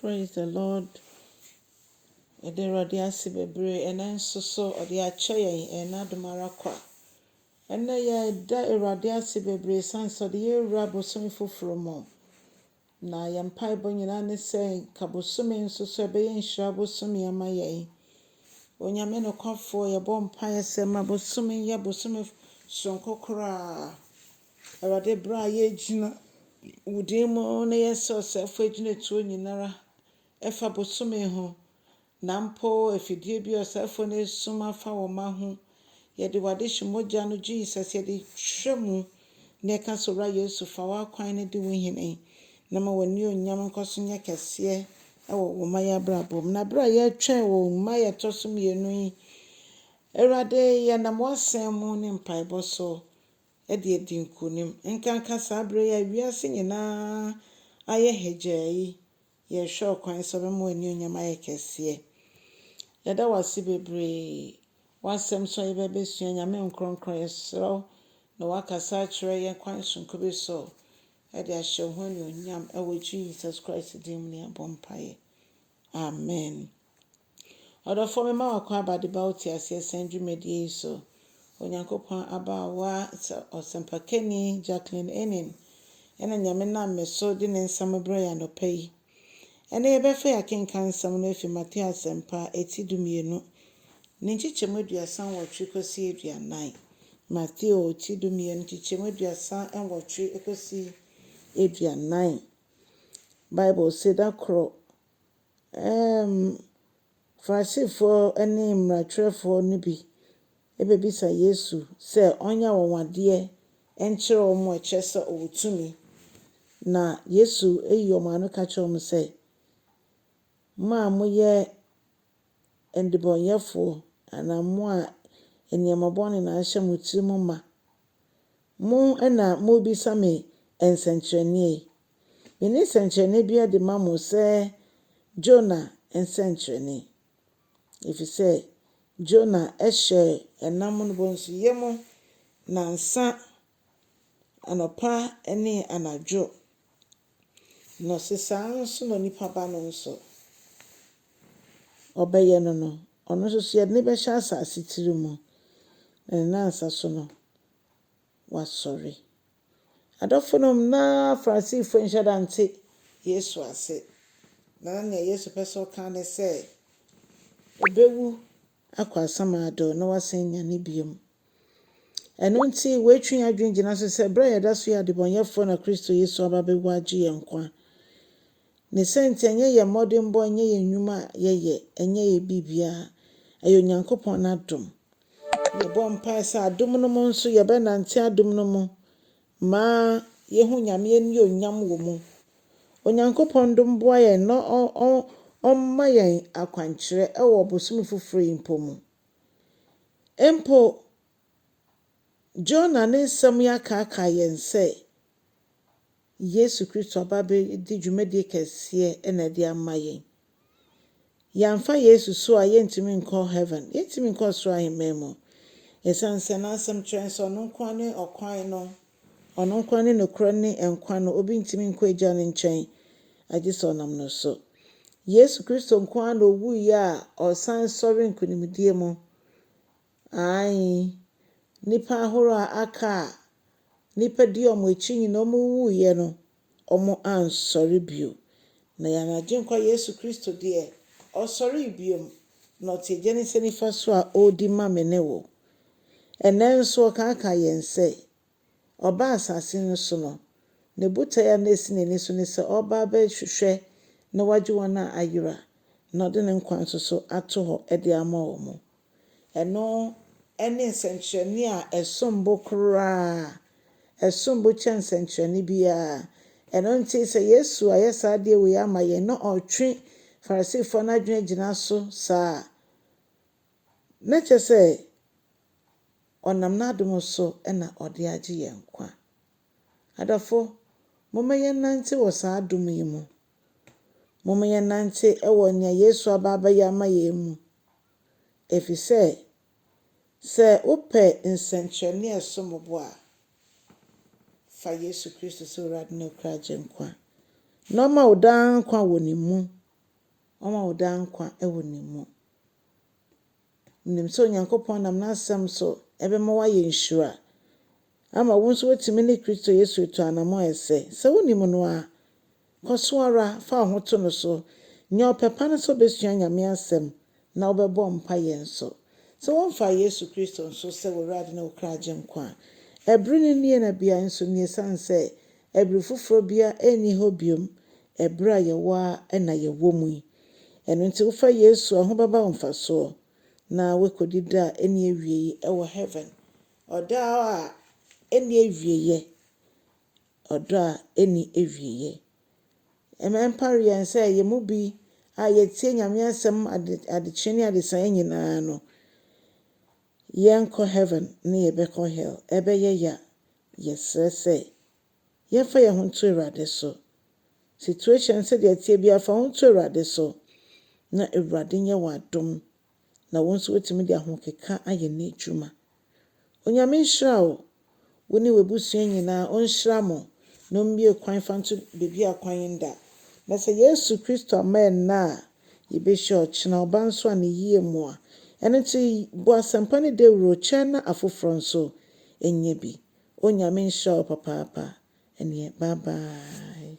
Praise the Lord yɛda awurade ase bebree ɛnɛ nso so ɔde akyɛ yɛn ɛyɛ n'adom ara kwa ɛnɛ yɛda awurade ase bebree san sɛ ɔde yɛwura bosome foforɔ mu na yɛn mpaebɔ nyinaa ne sɛ nka bosome nso so ɛbɛyɛ nhyira bosome ama yɛn onyame nokwafoɔ yɛbɔ mpaeɛ sɛ ma bosome yɛ bosome soronko koraa Awurade, berɛ a yɛregyina Wo din mu na yɛsɛ ɔsɛefoɔ agyinatuo nyinara ɛfa bosome ho, na mpo afidie bi a ɔsɛefoɔ no asum afa wo mma ho, yɛde W'adehye mogya no, Jesus, yɛde twerɛ mu, na yɛka sɛ, Owura Yesu, fa W'akwan no di Wo hene, na ma W'anuonyam nkɔ so nyɛ kɛseɛ wɔ Wo mma yi abrabɔ mu. Na berɛ a yɛretwɛn Wo mma a yɛtɔ so mmienu yi, Awurade, yɛnam W'Asɛm mu ne mpaebɔ so, de adi nkonim. Ɛnkanka saa bere yi a wiase nyinaa ayɛ hagyaa yi, yɛrehwɛ ɔkwan sɛ ɔbɛma w'anuonyam ayɛ kɛseɛ. Yɛda wo ase bebree. W'asɛm so a yɛbɛ bɛsua Nyame nkorɔnkorɔn, yɛsrɛ wo na woakasa akyerɛ yɛn kwan sononko bi so de ahyɛ wo ho anuonyam. Ɛwɔ Jesus Christ din mu ne yɛbɔ mpaeɛ. Amen. Ɔdɔfoɔ mema wo kwan aba deba wo teaseɛ sɛn dwumadie yi so. Onyankopɔn abaawa sɛ ɔsɛmpakani Jacqueline Enin ɛna Nyame nam me so de ne nsɛm rebrɛ yɛn anɔpa yi. Ɛnɛ yɛbɛfa yɛn akenkan nsɛm no afi Mateo Asɛmpa eti dumienu ne nkyekyɛmu aduasa nwɔtwe kɔsi aduanan. Mateo ti dumienu nkyekyɛmu aduasa nwɔtwe kɔsi aduanan. Bible se da koro Ɛnna Farisifoɔ ne mmarakyerɛfoɔ no bi bɛbisa Yesu sɛ ɔnyɛ anwanwadeɛ nkyerɛ wɔn a ɛkyerɛ sɛ ɔwɔ tumi. Na Yesu yi wɔn ano ka kyerɛ wɔn sɛ, Mo a moyɛ nnebɔneyɛfoɔ anaa mo a nneɛma bɔne na ahyɛ mo tirim ma, Mo na morebisa me nsɛnkyerɛnneɛ yi? Mene nsɛnkyerɛnneɛ bi adi ma mo sɛ Jona nsɛnkyerɛnne? Ɛfiri sɛ Jona hyɛɛ ɛnam no bonsoyɛ mu nnansa, anɔpa ne anadwo, Na ɔse saa ara nso na onipa ba no nso ɔbɛyɛ no no, ɔno nso so yɛde no bɛhyɛ asase tiri mu, na ne nansa so no wasɔre. Adɔfonom, na Farisifo nhyɛ da nte Yesu ase, na na nea Yesu pɛ sɛ ɔka ne sɛ, Obewu akɔ asamado na wasan anyane bio. Ɛno nti, wɔatwe yɛn adwene gyina so sɛ bere a yɛda so yɛ adebɔnyɛfoɔ na Kristo Yesu aba bɛwu agye yɛn nkwa. Ne saa nti, ɛnyɛ yɛn mmɔdenbɔ, ɛnyɛ yɛn nnwuma a yɛyɛ, ɛnyɛ yɛn biribiara, ɛyɛ Onyankopɔn n'adom. Yɛbɔ mpae sɛ adom no mu nso yɛbɛnante adom no mu Ma yɛhu Nyame annuonyam wɔ mu. Onyankopɔn dom boa yɛn na ɔmma yɛn akwankyerɛ wɔ bosome foforɔ yi mpo mu. Mpo Jonah ne nsɛm yi akaakae yɛn sɛ Yesu Kristo aba abɛdi dwumadie kɛseɛ na ɛde ama yɛn. Yɛamfa Yesu so a, yɛrentumi nkɔ heaven. Yɛrentumi nkɔ ɔsoro ahemman mu. Esiane sɛ n'asɛm kyerɛ sɛ ɔno nko ara ne ɔkwan no, ɔno nko ara ne nokorɛ ne nkwa no, obi ntumi nkɔ Agya no nkyɛn agye sɛ ɔnam no so. Yesu Kristo nko ara na owuiɛ a ɔsan sɔre nkonimdie mu. Aane, nnipa ahorow a aka a nnipa di wɔn akyi nyinaa wɔwuiɛ no, wɔansɔre bio. Na yɛn Agyenkwa Yesu Kristo deɛ, ɔsɔree bio, na ɔte Agya no nsa nifa so a ɔredi ma me ne wo. Ɛnnɛ nso ɔkaakaa yɛn sɛ, ɔbaa asase no so no, ne botae a na ɛsi n'ani so ne sɛ ɔreba abɛhwehwɛ na wagye wɔn a ayera, na ɔde ne nkwa nso so ato hɔ de ama wɔn. Ɛno ne nsɛnkyerɛnne a ɛsom bo koraa, ɛsom bo kyɛn nsɛnkyerɛnne biara. Ɛno nti, sɛ Yesu ayɛ saa adeɛ wei ama yɛn na ɔretwe Farisifoɔ no adwene agyina so saa a, na kyerɛ sɛ ɔnam n'adom so na ɔde agye yɛn nkwa. Adɔfo, momma yɛnnante wɔ saa adom yi mu. Momma yɛnnante wɔ nea Yesu aba abɛyɛ ama yɛn mu. efisɛ sɛ wopɛ nsɛnkyerɛnne a ɛsom bo a, fa Yesu Kristo sɛ W'Awurade ne Wo Kra Agyenkwa, na Ɔma wo daa nkwa wɔ Ne mu, Ɔma wo daa nkwa wɔ Ne mu. Menim sɛ Onyankopɔn nam N'Asɛm so bɛma woayɛ nhyira, ama wo nso woatumi ne Kristo Yesu atu anammɔn a ɛsɛ. Sɛ wunnim no a, kɔ so ara, fa wo ho to no so. Nya ɔpɛ pa no sɛ wubesua Nyame Asɛm na wobɛbɔ mpaeɛ nso. Sɛ womfaa Yesu Kristo nso sɛ w'Awurade ne wo kra Agyenkwa a, ɛbere no nie na beae nso nie ɛsiane sɛ ɛbere foforɔ biara nni hɔ biom ɛbere a yɛwɔ ara na yɛwɔ mu yi. Ɛno nti wofa Yesu a, ho bɛba wo mfasoɔ na woakɔdi da a ɛnni awiei wɔ Heaven. Ɔdɔ a ɛnni awieeɛ. Ɔdɔ a ɛnni awieeɛ. Ɛma ɛmpare yɛn sɛ yɛn mu bi a yɛtie Nyame asɛm ade adekyee ne adesaeɛ nyinaa no, yɛnkɔ heaven ne yɛbɛkɔ hell. Ɛbɛyɛ ya. Yɛsrɛ sɛ yɛmfa yɛn ho nto Awurade so. Situation sɛdeɛ ɛteɛ biara fa wo ho to Awurade so na Awurade nyɛ w'adom na wo nso woatumi de ahokeka ayɛ n'adwuma. Onyame nhyira wo, wo ne w'abusua nyinaa, ɔnhyira mo, na ɔmmue kwan mfa nto baabi a kwan nda. Na sɛ Yesu Kristo amma ɛnnɛ a, yɛbɛhyia ɔkyena, ɔba nso a ne yie mu a. Ɛno nti bɔ asɛmpa no dawuro, kyɛ na afoforɔ nso nyɛ bi. Onyame nhyira wo papaapa. Ɛnneɛ bye bye.